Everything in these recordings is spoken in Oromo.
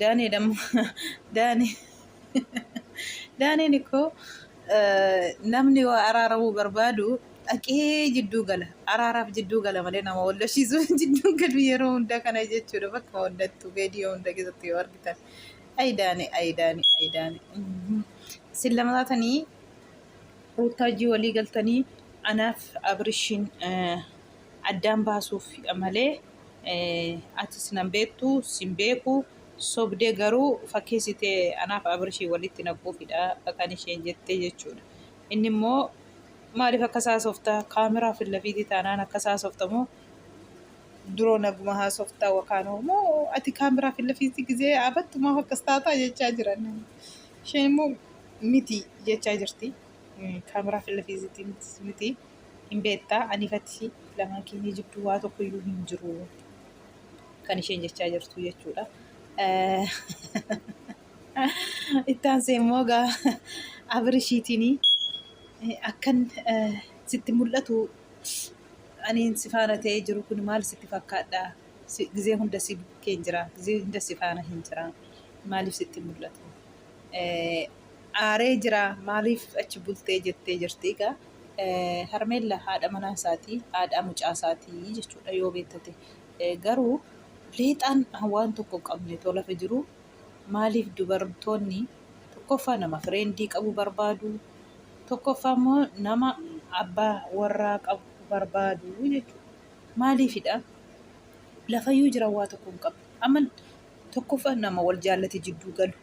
Daanee damma daanee daaneen ikkoo namni waa araaramuu barbaadu dhaqee jidduu gala araaraaf jidduu gala malee nama wal lolchiisuu jidduu galu yeroo hunda kana jechuudha bakka hundattu viidiyoo hunda keessatti yoo argitan ayi daane ayi daane ayi daane sin lama taatanii ruuttaajii walii galtanii anaaf abrishiin addaan baasuuf malee Atis nan beektu sin beeku sobdee garuu fakkeessite anaaf Abirshii walitti naquufidha kan isheen jettee jechuudha. Inni immoo maaliif akkas haasofta kaameraa fillafiitii taanaan akkas haasofta moo duroo naguma haasofta wakaanoo moo ati kaameraa fillafiitii gizee abattu maaf akkas taataa jechaa jiran. Isheen immoo miti jechaa jirti. Kaameraa fillafiitii miti. hin beektaa aniif ati lamaan keenya jidduu waa tokko iyyuu hin jiru kan isheen jechaa jirtu jechuudha. Itti aansee immoo gaa Abirishiitiin akkan sitti mul'atu aniin si faana ta'ee jiru kun maal sitti fakkaadha? Gizee hunda si bukkeen jira, gizee hunda si faana hin jira. Maaliif sitti mul'atu? aaree jira maaliif achi bultee jettee jirti egaa harmeella haadha manaa isaatii haadhaa mucaa isaatii jechuudha yoo beektate garuu leexaan waan tokko hin qabne too lafa jiru maaliif dubartoonni tokkoffaa nama fireendii qabu barbaadu tokkoffaa immoo nama abbaa warraa qabu barbaadu jechuudha maaliifidha lafayyuu jiran waa tokko hin qabne amma tokkoffaa nama wal jaallate jidduu galu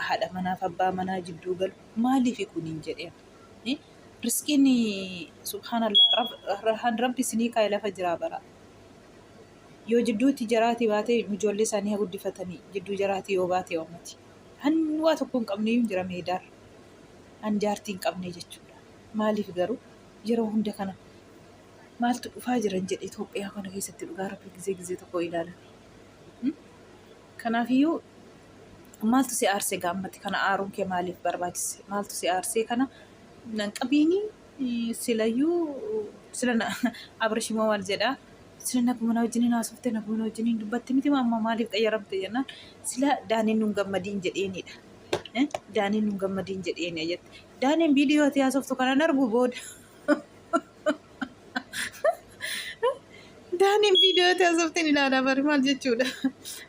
haadha manaaf abbaa manaa jidduu galu maaliifi kuniin jedheen. Eh, Riskiin subhaanallah rab- rahaan rabbi isinii kaa'e lafa jiraa bara. Yoo jidduutti jaraati baatee ijoollee isaanii haa guddifatanii jidduu jaraati yoo baate oomati. Han waa tokko hin qabne hin jira meedaarra. An jaartii hin qabne jechuudha. Maaliif garuu yeroo hunda kana maaltu dhufaa jiran jedhe Itoophiyaa kana keessatti dhugaa rabbi gizee gizee tokko ilaalan. Kanaafiyyuu maaltu si aarse egaa ammatti kana aaruun kee maaliif barbaachise? Maaltu si aarsee kana nan qabiini silayyuu sila na Abrish immoo maal jedha? Sila naguma na wajjiniin haasofte naguma na wajjiniin dubbatte miti moo amma maaliif qayyaramte jennaan sila daaniin nun gammadiin jedheenidha. Eh, Daaniin nun gammadiin jedheeni jette. Daaniin viidiyoo ati haasoftu kanan argu booda Daaniin viidiyoo itti asoftiin ilaalaa bari maal jechuudha?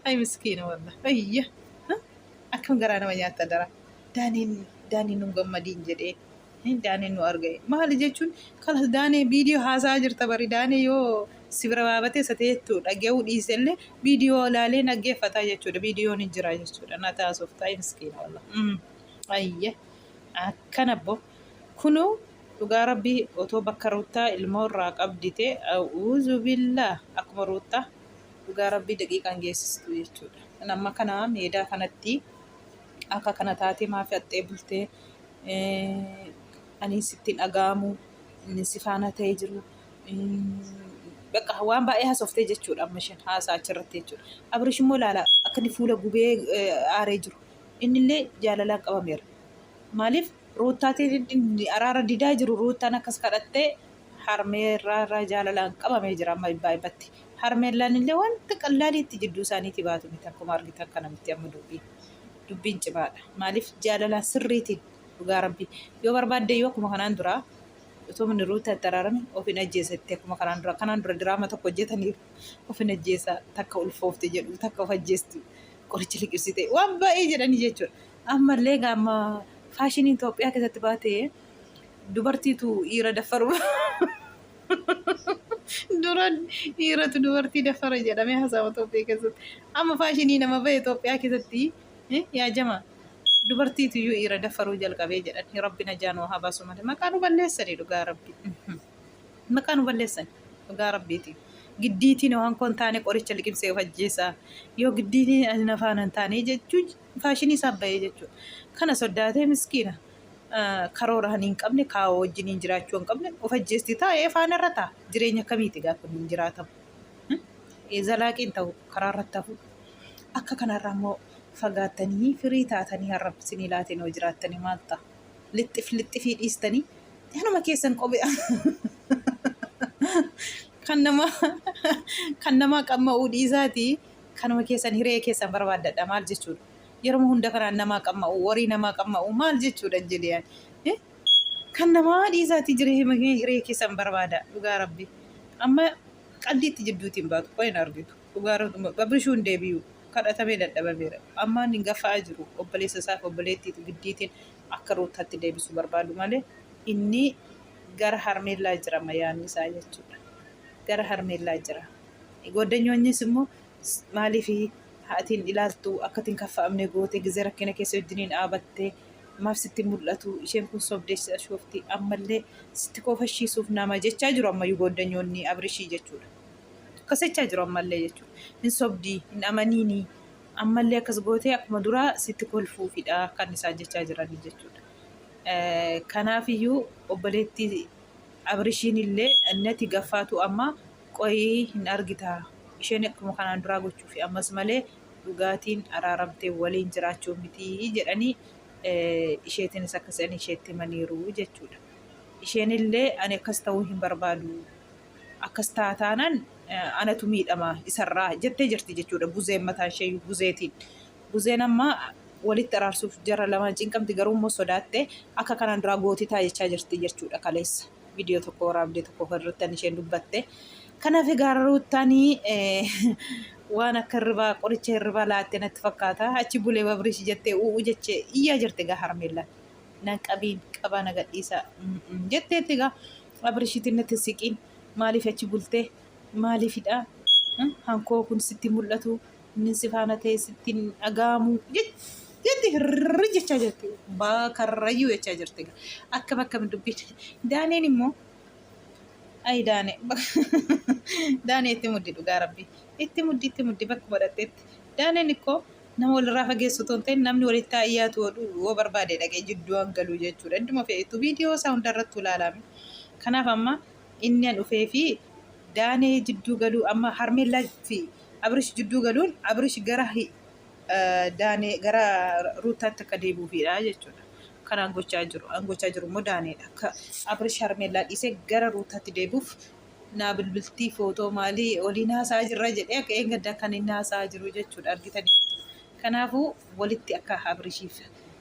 Ay miskiina walla. Ayya. Akkam garaa nama nyaatta dara. Daaniin daaniin nun gammadiin jedhee. Daaniin nu arga'e. Maali jechuun kalas daanee viidiyoo haasaa jirta bari daanee yoo si bira baabatee isa ta'eettu dhaga'uu dhiise illee viidiyoo ilaalee dhaggeeffataa jechuudha. Viidiyoon hin jira jechuudha. Na taasofta ay miskiina walla. Ayya. Akkana boo. Kunuu Dhugaa rabbi otoo bakka ruuttaa ilmoo irraa qabdi tee auzubillaah akkuma ruuttaa dhugaa rabbi daqiiqa hin geessistuu jechuudha kan amma kana meedaa kanatti akka kana taatee maafi haxxee bultee anii sittiin dhaga'amu inni si faana ta'ee jiru bakka waan baay'ee hasoftee jechuudha amma isheen haasaa achirratti jechuudha abrish immoo ilaala akka inni fuula gubee aaree jiru innillee jaalalaan qabameera maaliif Ruuttaatiin araara didaa jiru Ruuttaan akkas kadhattee harmee irraa irraa jaalalaan qabamee jira amma ibbaa ibbatti. Harmeen laanillee wanta qallaaliitti jidduu isaaniitii baatu miti akkuma argitan kana miti amma dubbiin. Dubbiin cimaadha. Maaliif jaalalaan sirriitiin dhugaa rabbii yoo barbaadde iyyuu akkuma kanaan duraa utuu inni Ruuttaa itti araarame of hin ajjeesa itti akkuma kanaan dura kanaan dura diraama tokko hojjetaniiru of hin ajjeesa takka ulfoofte jedhu takka of ajjeestu qoricha liqimsite waan baay'ee jedhanii jechuudha. Ammallee egaa amma faashiniin Itoophiyaa keessatti baate dubartiitu dhiira daffaru. Dura dhiiratu dubartii daffara jedhamee haasa'ama Itoophiyaa keessatti. Amma faashinii nama bahe Itoophiyaa keessatti eh, yaa jama dubartiitu iyyuu dhiira daffaruu jalqabee jedhan. Rabbi najaa nuu haa baasu malee maqaa nu balleessani dhugaa rabbi. Maqaa nu balleessani dhugaa rabbiiti. Giddiitiin waan koon taane qoricha liqimsee of ajjeesaa. Yoo giddiitiin ani na faana hin taane jechuun faashinii isaaf bahee jechuudha. Kana soddaatee miskiina karoora kan hin qabne kaawoo wajjin hin jiraachuu hin qabne of ajjeesti taa'ee faana irra ta'a. Jireenya akkamiiti gaa kun hin jiraatamu. Zalaaqiin ta'u karaa irratti hafu. Akka kanarraa immoo fagaattanii firii taatanii har'a sinii laatiin hoo jiraattanii maal ta'a? Lixxif lixxifii dhiistanii kanuma keessan qophi'a. Kan namaa kan namaa qamma'uu dhiisaatii kanuma keessan hiree keessan barbaaddadha maal jechuudha yeroma hunda kanaan namaa qamma'u warii namaa qamma'u maal jechuudha injiliyaan kan namaa dhiisaatii jira hiree keessan barbaada dhugaa rabbi amma qaldiitti jidduutiin baatu qoy hin argitu dhugaa rabbi babrishuu hin deebi'u kadhatamee dadhabameera ammaan hin gaffa'aa jiru obboleessa isaaf obboleettiitu giddiitiin akka ruutaatti deebisu barbaadu malee inni gara harmeellaa jira mayaanni isaa jechuudha gara harmeellaa jira. Gooddanyoonnis immoo maaliif haatiin ilaaltu akkatiin kaffa'amne goote gizee rakkina keessa wajjiniin dhaabatte maaf sitti mul'atu isheen kun sobdee si ashoofti ammallee sitti koofashiisuuf nama jechaa jiru ammayyuu gooddanyoonni abrishii jechuudha. Akkas jechaa jiru ammallee jechuudha. Hin sobdii hin amaniinii ammallee akkas gootee akkuma duraa sitti kolfuufidha kan isaan jechaa jiranii jechuudha. Kanaafiyyuu obboleettii abrishiin illee nati gaffaatu amma Qoyii hin argitaa isheen akkuma kanaan duraa gochuufi ammas malee dhugaatiin araaramtee waliin jiraachuu mitii jedhanii isheetiinis akkas jedhanii isheetti himaniiru jechuudha. Isheenillee ani akkas ta'uu hin barbaadu akkas ta'a taanaan anatu miidhama isarraa jettee jirti jechuudha buzeen mataan ishee buzeetiin. Buzeen amma walitti araarsuuf jara lamaan cinqamti garuu immoo sodaattee akka kanaan duraa gootitaa jechaa jirti jechuudha kaleessa. viidiyoo tokko waraabdee tokko kan ruttan isheen dubbatte. Kanaaf egaa ruuttaanii waan akka hirribaa qoricha hirribaa laattee natti fakkaata. Achi bulee babriish jettee u'u jechee iyyaa jirti egaa harmeellaan. Nan qabiin qabaa na gadhiisaa jetteetti egaa abrishiitiin natti siqiin maaliif achi bultee maaliifidhaa hankoo kun sitti mul'atu Inni si faana ta'e sitti hin dhaga'amu jetti hirri jechaa jirti. Baa karrayyuu jechaa jirti. Akkam akkam dubbiin. Daaneen immoo ayi daane daane itti muddi dhugaa rabbi itti muddi itti muddi bakkuma dhaqxetti daaneen ikkoo nama walirraa fageessu otoo hin ta'in namni walitti haa dhiyaatu yoo barbaade dhaqee jidduu an galuu jechuudha idduma fe'etu viidiyoo isaa hundarrattuu ilaalame kanaaf amma inni an dhufee fi daanee jidduu galuu amma harmeellaa fi Abrish jidduu galuun Abrish gara Daanee gara Ruuttaatti akka deebi'uufidha jechuudha. Kanaan gochaa jiru. An gochaa jiru immoo Daaneedha. Akka Abrish Harmeellaa dhiisee gara Ruuttaatti deebi'uuf naa bilbiltii footoo maalii waliin haasa'aa jirra jedhee akka eeggaddaa kan inni haasa'aa jiru jechuudha argitanii. Kanaafuu walitti akka Abrishiif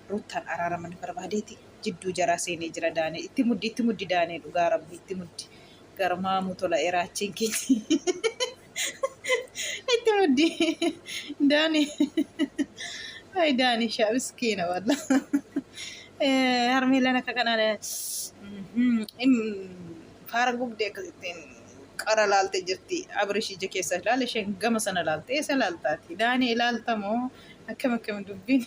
Ruuttaan araaraman barbaadeeti jidduu jaraa seenee jira Daanee. Itti muddi itti muddi Daanee dhugaa rabbi itti muddi. Garmaamuu tola eraachiin keenya. Itti muddi. Daani. Ay daani shaa miskiina walla. Harmee lana akka kanaan faara gubdee akkasittiin qara laalte jirti. Abirish ija keessa ilaale isheen gama sana laalte. Eessa laaltaati? Daani ilaaltamoo akkam akkam dubbiin?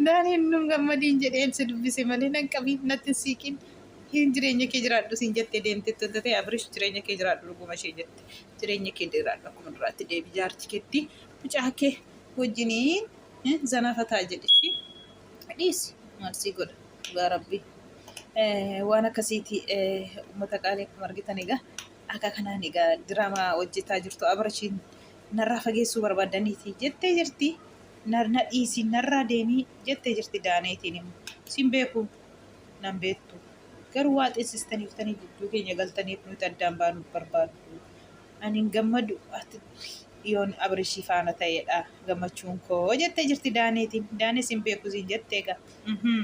Daaniin nun gammadiin jedheen si dubbise malee nan qabiin natti hin siiqiin hin jireenya kee jiraadhu siin jettee deemte itti tatee Abrish jireenya kee jiraadhu dhuguma ishee jette jireenya kee jiraadhu akkuma duraatti deebi jaarti ketti mucaa kee wajjiniin zanaa fataa jedhi ishii dhiisi maal sii godha dhugaa rabbii waan akkasiiti uummata qaalii akkuma argitan egaa akka kanaan egaa diraamaa hojjetaa jirtu Abrishiin narraa fageessuu barbaadaniiti jettee jirti. na na dhiisi narraa deemi jettee jirti daaneetiin immoo sin beeku nan beektu garuu waa xeessistaniiftanii jidduu keenya galtaniif nuti addaan baanuuf barbaaddu ani hin gammadu ati yoon abrishii faana ta'eedha gammachuun koo jettee jirti daaneetiin daanee sin beeku siin jettee egaa mhm.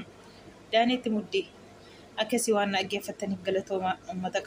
daaneetti muddii akkasii waan na dhaggeeffattaniif galatoomaa uummata